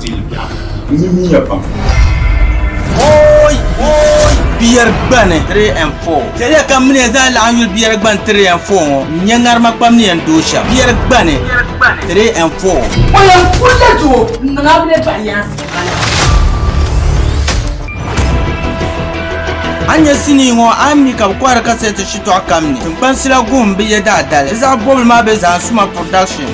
dili bɛɣu. N ni mi ya pam. Hooy! Hooy! Biyɛrigbani 3 and 4 Chɛliya ka m mini ya zaa laɣim yuli Biyɛrigbani 3 and 4 ŋɔ n-nyɛ ŋarima kpam ni yɛn dooi shɛm. Biyɛrigbani 3 and 4. O yɛn kurila doo n-niŋ a bile bahiyaansi bala. A ni nya sinii ŋɔ a ni mi ka bɛ kɔhiri kasɛɛti shitɔɣu kam ni, Tiŋkpansi la guhim bi yɛdaadali. Di zaɣ bɔbili maa be Zahansuma Production.